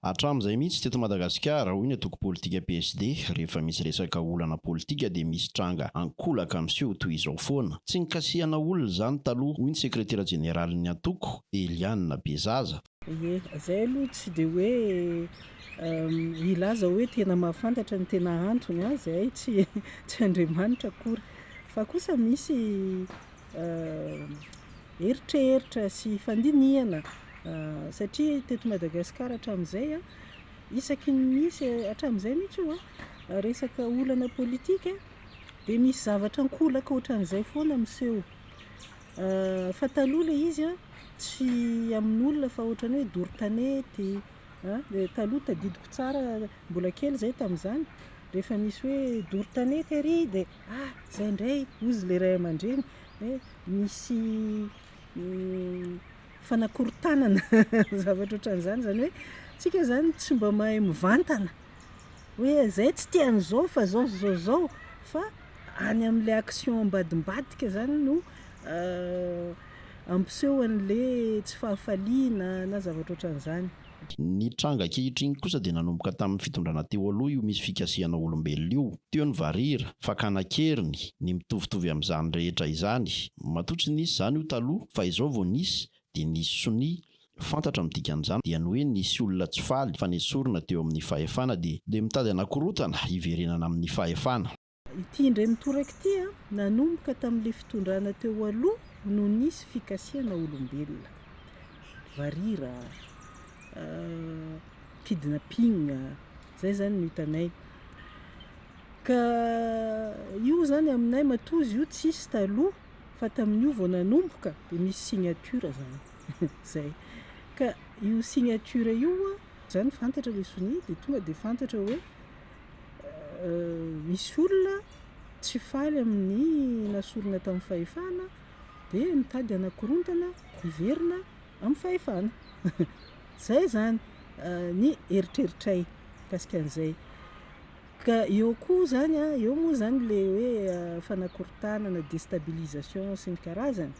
Hatramin'izay mihitsy teto Madagasikara, hoy ny antoko politika PSD, rehefa misy resaka olana politika dia misy tranga ankolaka miseho toy izao foana. Tsy nikasihana olona izany taloha, hoy ny sekretera jeneralin'ny antoko, Eliane Bezaza. Ie, izay aloha tsy dia hoe hilaza hoe tena mahafantatra ny tena antony an, izahay tsy Andriamanitra akory. Fa kosa misy. eritreritra sy fandinihana satria teto Madagasikara hatramin'izay, isaky ny misy, hatramin'izay mihitsy io an, resaka olana politika dia misy zavatra ankolaka ohatran'izay foana miseho. Fa taloha ilay izy an, tsy amin'olona fa ohatran'ny hoe doro tanety, taloha tadidiko tsara, mbola kely izahay tamin'izany, rehefa misy hoe doro tanety ary dia, ah! izay indray, hozy ilay ray aman-dreny. misy fanakorontanana zavatra ohatran'izany, izany hoe isika izany tsy mba mahay mivantana hoe izay tsy tian'ny izao fa izao sy izao sy izao fa any amin'ilay action ambadimbadika izany no ampiseho an'ilay tsy fahafaliana na zavatra ohatran'izany. Ny tranga ankehitriny kosa dia nanomboka tamin'ny fitondrana teo aloha io misy fikasihana olombelona io. Teo ny varira, fakana an-keriny, ny mitovitovy amin'izany rehetra izany. Matoa tsy nisy izany io taloha fa izao vao nisy dia nisy sonia. Fantatra ny dikan'izany dia ny hoe nisy olona tsy faly fa nesorina teo amin'ny fahefana dia dia mitady hanakorontana hiverenana amin'ny fahefana. Ity indray mitoraka ity a, nanomboka tamin'ilay fitondrana teo aloha no nisy fikasihana olombelona. Varira, kidnapping, zay zany no hitanay. Ka io zany aminay matoa izy io tsisy taloha fa tamin'io vao nanomboka dia misy signature zany. Zay. Ka io signature io a, zany fantatra le sonia dia tonga dia fantatra hoe. misy olona tsy faly amin'ny nasorina tamin'ny fahefana dia mitady hanakorontana hiverina amin'ny fahefana. Izay izany ny eritreritray mikasika an'izay. Ka eo koa izany a, eo moa izany ilay hoe fanakorontana na destabilisation sy ny karazany.